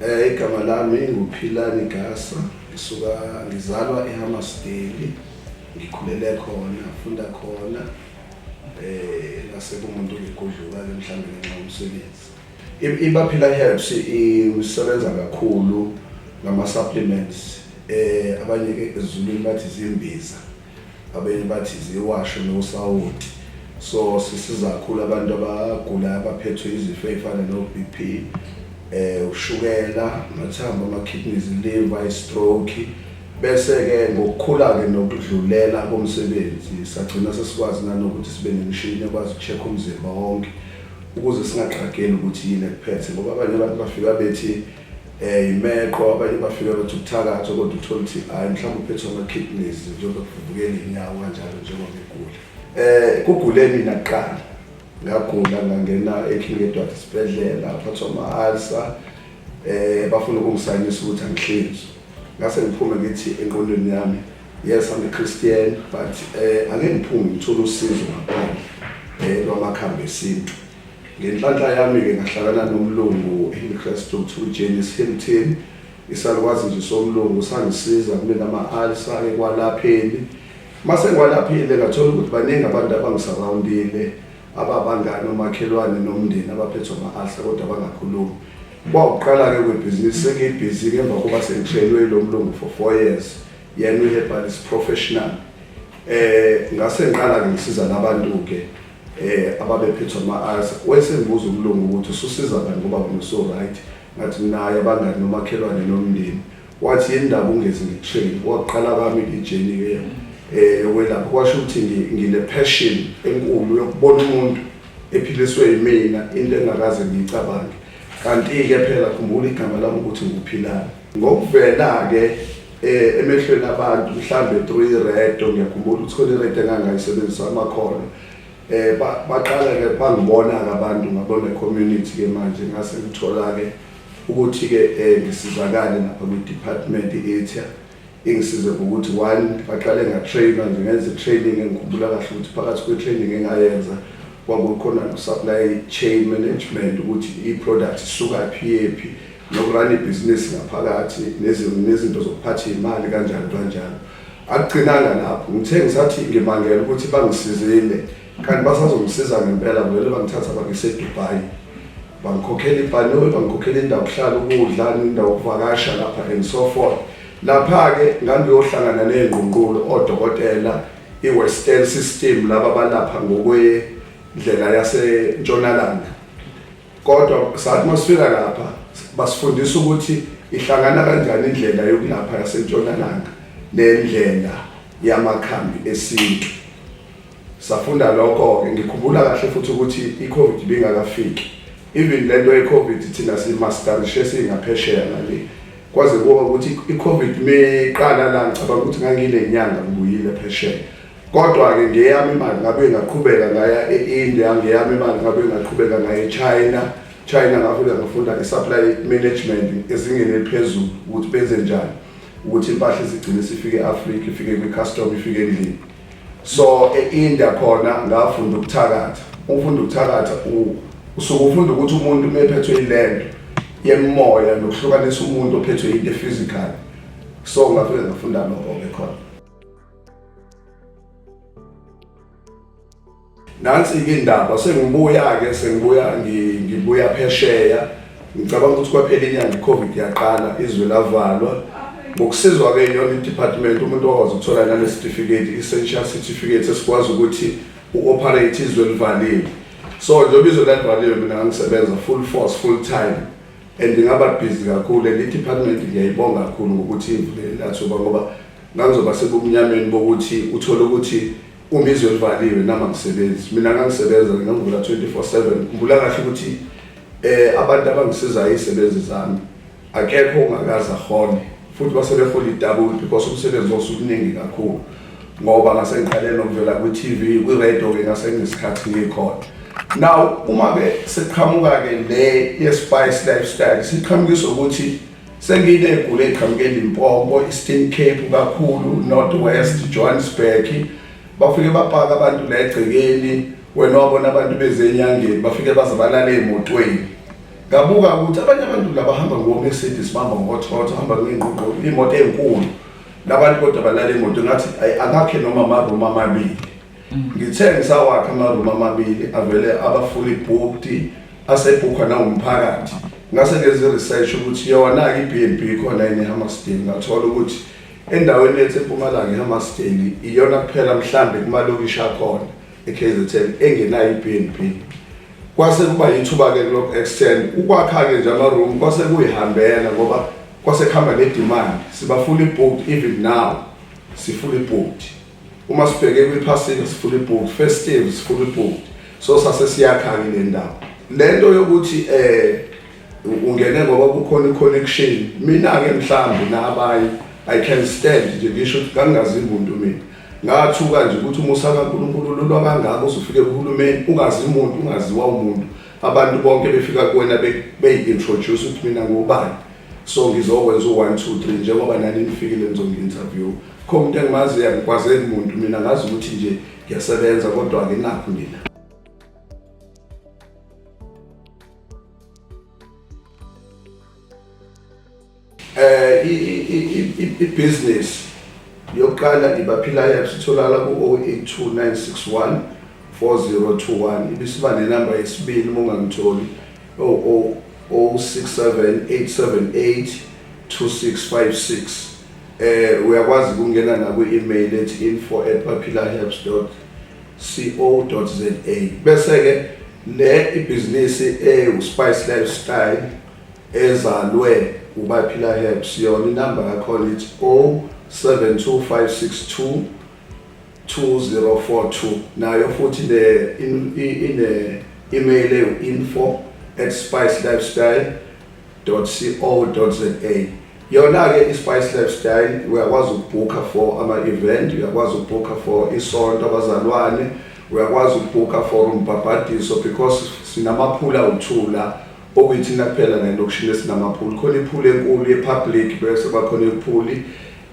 Eh igama lami nguPhilani Gasa ngisuka ngizalwa eHammarsdale ngikhulele khona funda khona eh nase kumuntu ngigudluka ke mhlawumbe ngenxa yomsebenzi IBaphila Herbs isebenza kakhulu ngama-supplements eh abanye ke ezulwini bathi zimbiza abanye bathi ziwasho nosawoti so sisiza kakhulu abantu abagula abaphethwe izifo ezifana no-bp eh ushukela amathambo ama-kidneys liver i-stroke bese-ke ngokukhula-ke nokudlulela komsebenzi sagcina sesikwazi nanokuthi sibe nemishini ekwazi uku-check umzimba wonke ukuze singaqageli ukuthi yini ekuphethe ngoba abanye abantu bafika bethi eh imeqo abanye bafika bethi ukuthakatha kodwa uthola ukuthi hayi mhlawumbe uphethwe ama-kidneys njengoba kuvukela inyawo kanjalo njengoba ngigula eh kugule mina kuqala ngagula ngangena eking edward isibhedlela phathwa ama-alsa eh bafuna ukungisayinisa ukuthi angihlinzwe ngase ngiphume ngithi enqondweni yami Yes, I'm a Christian, but eh ake ngiphume ngithola usizo ngaphandle eh lwamakhambi esintu. Ngenhlanhla yami ke ngahlakana nomlungu engikristu kuthiwa uJames Hilton. Isalukwazi nje somlungu sangisiza kumina ama-alsa ekwalapheni. Mase ngiwalaphile ngathola ukuthi baningi abantu abangisarawundile ababangani omakhelwane nomndeni abaphethwe ama-alsa kodwa bangakhulumi. Kwawuqala-ke kwebhizinisi sengiyibhizi-ke emva kokuba sengishelwe lo mlungu for four years. Yena uHerbal is professional. Eh ngase ngiqala ngisiza labantu ke eh ababephethwa ama-ayas wayesengibuza umlungu ukuthi ususiza bani ngoba wena uso-right ngathi naye abangani nomakhelwane nomndeni wathi yini ndaba ungezi ngi-train waqala kwami ijeni-ke um eh, yokwelapha kwasho ukuthi ngine-passion enkulu yokubona umuntu ephiliswe yimina into engakaze ngiyicabange kanti-ke phela khumbula igama lami ukuthi nguphilani Ngokuvela-ke eh, emehlweni abantu mhlambe through iredo ngiyakhumbula ukuthi khona iredo engangayisebenzisa amakhona eh ba- baqala-ke bangibona-ke abantu ngabona community-ke manje ngase ngithola-ke ukuthi-ke eh, ngisizakale lapha kwi-department i-atia ingisize ngokuthi one baqale ngatrainwa nje ngenza i-training engikhumbula kahle ukuthi phakathi kwe-training engayenza kwakukhona no-supply chain management ukuthi i-product isukaphi yephi nokurana ibhizinisi ngaphakathi nezinto zokuphatha iy'mali kanjani kanjani akugcinanga lapho ngithe ngisathi ngimangela ukuthi bangisizile kanti basazongisiza ngempela vele bangithatha bangisedubayi bangikhokhela ibhanoyi bangikhokhela indawo kuhlala ukudla indawo kuvakasha lapha and so forth lapha-ke ngangiyohlangana ney'ngqungqulo odokotela i-western system laba balapha ngokwendlela yasentshonalanga kodwa sathi masifika lapha basifundisa ukuthi ihlangana kanjani indlela yokulapha yasentshonalanga nendlela yamakhambi esintu safunda lokho-ke ngikhumbula kahle futhi ukuthi i-covid ibingakafiki even le nto ye-covid thina simastarishe singaphesheya ngale kwaze kuwa ukuthi i-covid meqala la ngicabanga ukuthi ngangile nyanga ngibuyile phesheya Kodwa-ke ngeyami imali ngabe ngaqhubeka ngaya e-India, ngeyami imali ngabe ngaqhubeka ngaya e-China. China ngafika ngafunda i-supply management ezingeni eliphezulu ukuthi benze njani ukuthi impahla izigcine sifike e-Afrika, ifike kwi-custom, ifike endlini. So e-India khona ngafunda ukuthakatha. Ufunda ukuthakatha usuke ufunda ukuthi umuntu uma ephethwe ilento yemoya nokuhlukanisa umuntu ophethwe into e-physical. So ngafika ngafunda lokho-ke khona. nansi ke indaba sengibuya ke sengibuya ngibuya phesheya ngicabanga ukuthi kwaphela inyanga icovid yaqala izwe lavalwa ngokusizwa ke yona idepartment umuntu wakwazi ukuthola nane certificate essential certificate esikwazi ukuthi uoperate izwe livalile so njengoba izwe lalivaliwe mina ngangisebenza full force full time and ngaba busy kakhulu and idepartment ngiyayibonga kakhulu ngokuthi ivulele lathuba ngoba Ngangizoba sebumnyameni bokuthi uthole ukuthi uma izwe livaliwe nami angisebenzi. Mina ngangisebenza ngangivula 24/7. Ngibula kahle ukuthi eh abantu abangisizayo izisebenzi zami akekho ongakaza hone futhi basebehola idabula because umsebenzi osukuningi kakhulu ngoba ngasengiqale nokuvela kwi-TV kwi-radio ke ngasengisikhathi ngikhona now uma ke siqhamuka ke le ye-spice lifestyle siqhamukiswa ukuthi Senginegula eqhamuke eLimpopo, Eastern Cape kakhulu, North West, Johannesburg. Bafike bapaka abantu la egcekeni, wena wabona abantu beze enyangeni, bafike baze balale emotweni. Ngabuka ukuthi abanye abantu la bahamba ngo-Mercedes, bahamba ngo-Toyota, bahamba ngey'ngqungqulu, iy'moto ey'nkulu. Labantu kodwa balala emotweni, ngathi ayi angakhe noma ama-room amabili. Ngithe ngisawakha ama-room amabili avele abafuli booked asebhukhwa nawumphakathi ngase ngenza i-research ukuthi yona-ke i-b and b khona yini ehammarsdale ngathola ukuthi endaweni yethu empumalanga ehammarsdale iyona kuphela mhlambe kumalokishi akhona e-kzn engenayo i-b and b kwase kuba yithuba-ke kulokhu extend ukwakha-ke nje ama-room kwase kuyihambela ngoba kwase kuhamba ne-demand sibafuli booked even now sifuli booked Uma sibheke kwiphasika sifuna ibhuku, festive sifuna ibhuku. So sase siyakhanga le ndawo. Le nto yokuthi eh ungene ngoba kukhona i-connection mina-ke mhlawumbe nabanye i can stand nje ngisho ukuthi kangingazi muntu mina ngathuka nje ukuthi umusa kankulunkulu lulwa kangako usufike kuhulumeni ungazi muntu ungaziwa umuntu abantu bonke befika kuwena beyi-introduce ukuthi mina ngubani so ngizokwenza u-one two three njengoba nani nifikile nizongi-interview Kho umuntu engimaziyo angikwazeli muntu mina ngazi ukuthi nje ngiyasebenza kodwa anginakho mina. Eh i i i i business yokuqala ngibaphila yayo sitholakala ku 082961 4021 ibisiba nenamba yesibili uma ungangitholi 0067878 2656 Eh uyakwazi ukungena na kwi email ethi info@papilahebs.co.za bese ke le ibhizinisi ewu Spice Lifestyle ezalwe uBaphila Herbs yona inamba yakhona ithi 072562 2042 nayo futhi le ine email ewu info@spicelifestyle www.spicelabs.co.za Yona-ke i-Spice Lab Style uyakwazi ukubhukha for ama-event, uyakwazi ukubhukha for isonto, abazalwane, uyakwazi ukubhukha for umbhabhadiso because sinamaphula awu-two la okuyithina kuphela la elokishini esinamaphuli. Khona iphuli enkulu ye-public bese bakhona iphuli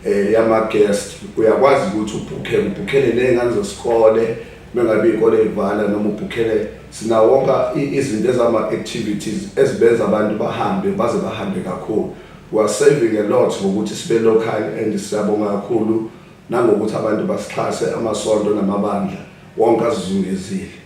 um yama-guest. Uyakwazi ukuthi ubhukhe, ubhukhele ney'ngane zesikole, Mengabe ikole ivala noma ubhukhele sinawonka izinto ezama activities ezibenza abantu bahambe baze bahambe kakhulu. We are saving a lot ngokuthi sibe local and siyabonga kakhulu nangokuthi abantu basixhase amasonto namabandla wonke azizungezile.